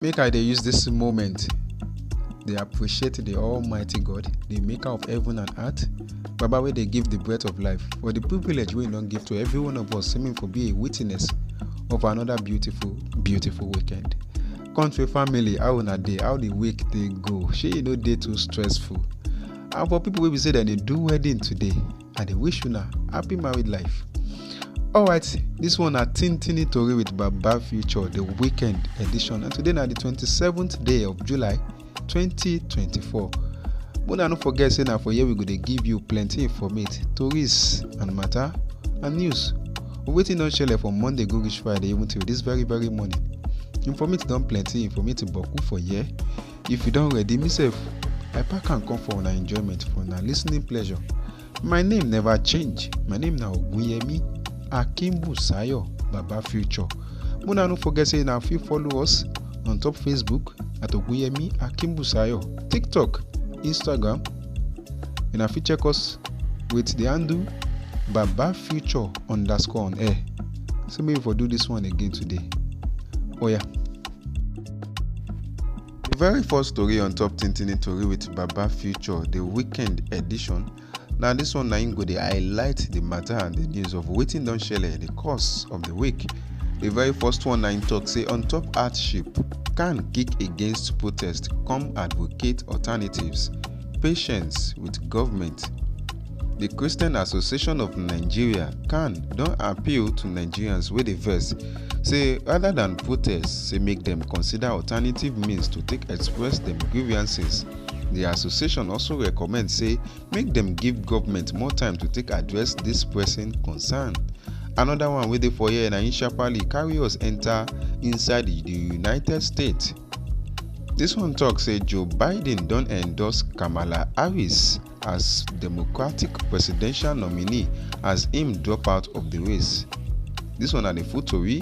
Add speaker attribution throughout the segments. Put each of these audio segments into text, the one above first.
Speaker 1: make i dey use dis moment dey appreciate di almighty god di maker of heaven and earth baba wey dey give di breath of life for di privilege wey e don give to every one of us seeming for be a witness of another beautiful beautiful weekend country family how una dey how di week dey go shey e no dey too stressful and for pipo wey be say dem dey do wedding today i dey wish una happy married life alright this one na tintini tori with baba future the weekend edition and today na the 27th day of july 2024 una no forget say na for here we go dey give you plenty informate tories and matter and news wetin don shele from monday go reach friday even till this very very morning informate don plenty informate boku for here If you don ready, me sef, I pack am come for una enjoyment, for una listening pleasure. My name never change. My name na Ogunyemi Akinbusayo Baba Future. Muna no forget say na fit follow us on top Facebook at Ogunyemi Akinbusayo, TikTok, Instagram. Una fit check us with the handle Baba Future underscore on air. So maybe for do this one again today. Oh yeah. The very first story on top Tintini Tori with Baba Future, the weekend edition. Now this one na go dey highlight the matter and the news of wetin don shele in the course of the week. The very first one na im talk say on top hardship, can kick against protest, come advocate alternatives, patience with government. The Christian Association of Nigeria, CAN, don appeal to Nigerians wey dey vex say rather than protests say make dem consider alternative means to take express dem grievances di association also recommend say make dem give government more time to take address dis pressing concern another one wey dey for here na im sharparly carry us enter inside di united states dis one tok say joe biden don endorse kamala harris as democratic presidential nominee as im drop out of di race. Dis one na di full tori,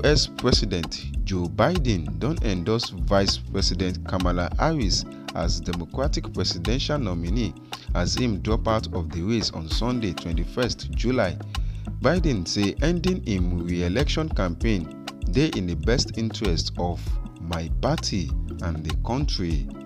Speaker 1: us president joe biden don endorse vice president kamala harris as democratic presidential nominee as im drop out of di race on sunday twenty one july. biden say ending im re-election campaign dey in di best interest of my party and di kontri.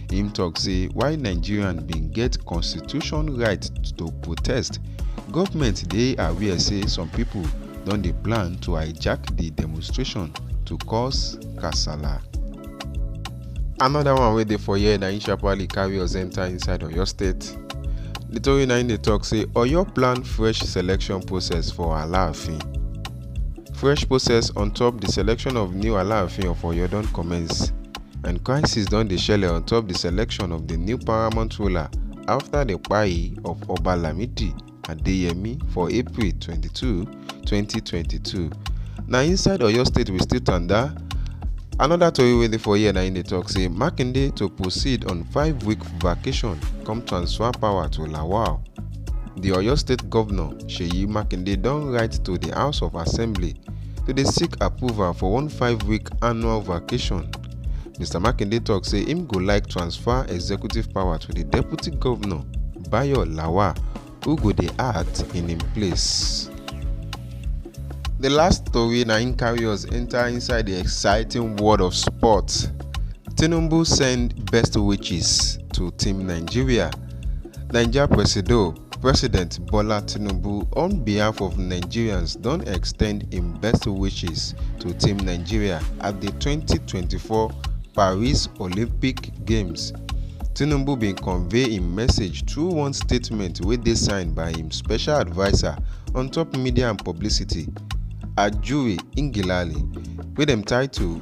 Speaker 1: im tok say while nigerians bin get constitution right to protest goment dey aware say some pipo don dey plan to hijack di demonstration to cause kasala. Another one wey dey for here na im sharparly carry us enter inside Oyo State. The tori na im dey talk say Oyo plan fresh selection process for Alaafin. Fresh process on top the selection of new Alaafin of Oyo don commence. And crisis don dey shele on top the selection of the new paramount ruler after the kpai of Oba Lamidi Adeyemi for April 22, 2022. Na inside Oyo State we still tanda. Another tori wey dey for here na im dey talk say Makinde to proceed on five-week vacation come transfer power to Lawal. The Oyo State Governor Seyi Makinde don write to the House of Assembly to dey seek approval for one five-week annual vacation mr makinde tok say im go like transfer executive power to di deputy govnor bayo lawal who go dey act in im place. di last tori na im carry us enta inside di exciting world of sports tinubu send best wishes to team nigeria naija presido. President Bola Tinubu on behalf of Nigerians don extend im best wishes to Team Nigeria at di 2024 Paris Olympic Games. Tinubu bin convey im message through one statement wey dey signed by im special adviser on top media and publicity, Ajuri Ngelale, wey dem title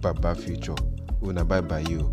Speaker 1: baba future una bye bye o.